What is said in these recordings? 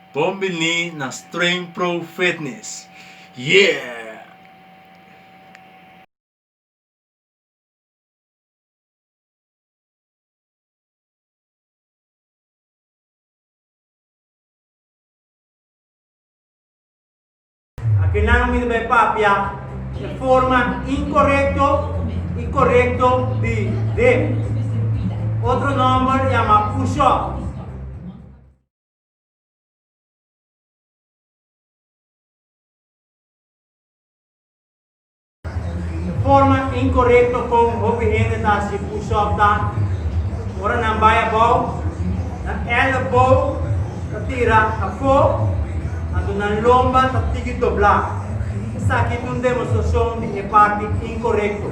Bon bini na Streng Pro Fitness! Yeah! Akinan mi ta bai papia e forma inkorekto i korekto di dip. Otro nòmber yama push-up. Forma inkorekto kon hopi hende ta hasi push-up ta ora nan bai abou, nan ellebou ta tira afó, anto nan lomba ta tigi doblá. Esaki ta un demostrashon di e parti inkorekto.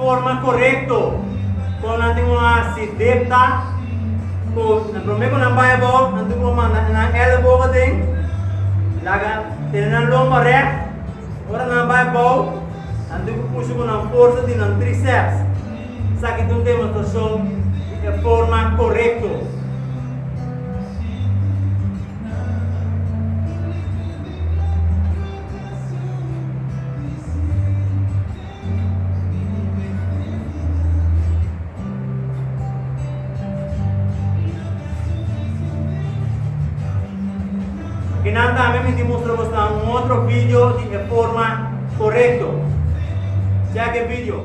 Forma korekto kon nan tin ku hasi dip ta ku promé ku nan bai abou nan debe ku manda nan elebo aden, laga tene nan lomba rèk. Ora nan bai abou nan debe ku pusha ku nan forsa di nan tríceps. Esaki ta un demostrashon di e forma korekto. Y nan tambe mi tin mustra bos nan un otro video di e forma corecto. Check e video.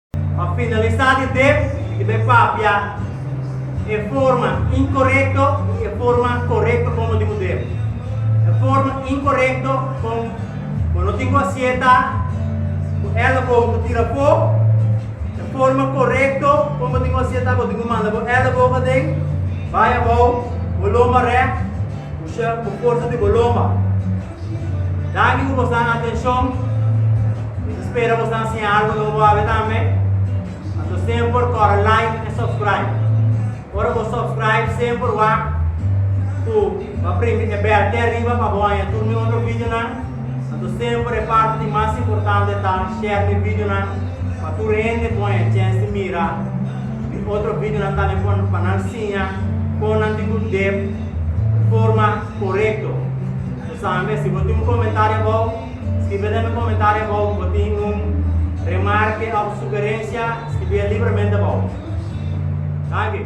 Pa finalisá di dep i bai papia e forma inkorekto i e forma korekto komo di un dep. E forma inkorekto kon bo no tin ku a sieta ku el bo ku tira afó. E forma korekto kon bo tin ku a sieta bo tin ku manda bo elebogu aden, bai abou, bo lomba rèk, usá bo forsa di bo lomba. Danki ku bosnan atenshon. Mi spera bosnan siña algu nobo awe tambe. Anto semper kòrda like en subscribe. Ora bo subscribe semper wak ku bo primi e bèl te ariba pa bo haña tur mi otro videonan. Anto semper e parti di mas importante ta share mi videonan pa tur hende por haña chèns di mira mi otro videonan tambe pa nan siña kon nan tin ku dep forma. Korekto. Bo sabe, si bo tin un komentario abou, skribia den mi komentario abou. Bo tin un remarke of sugerensia, skribia libremente abou. Danki.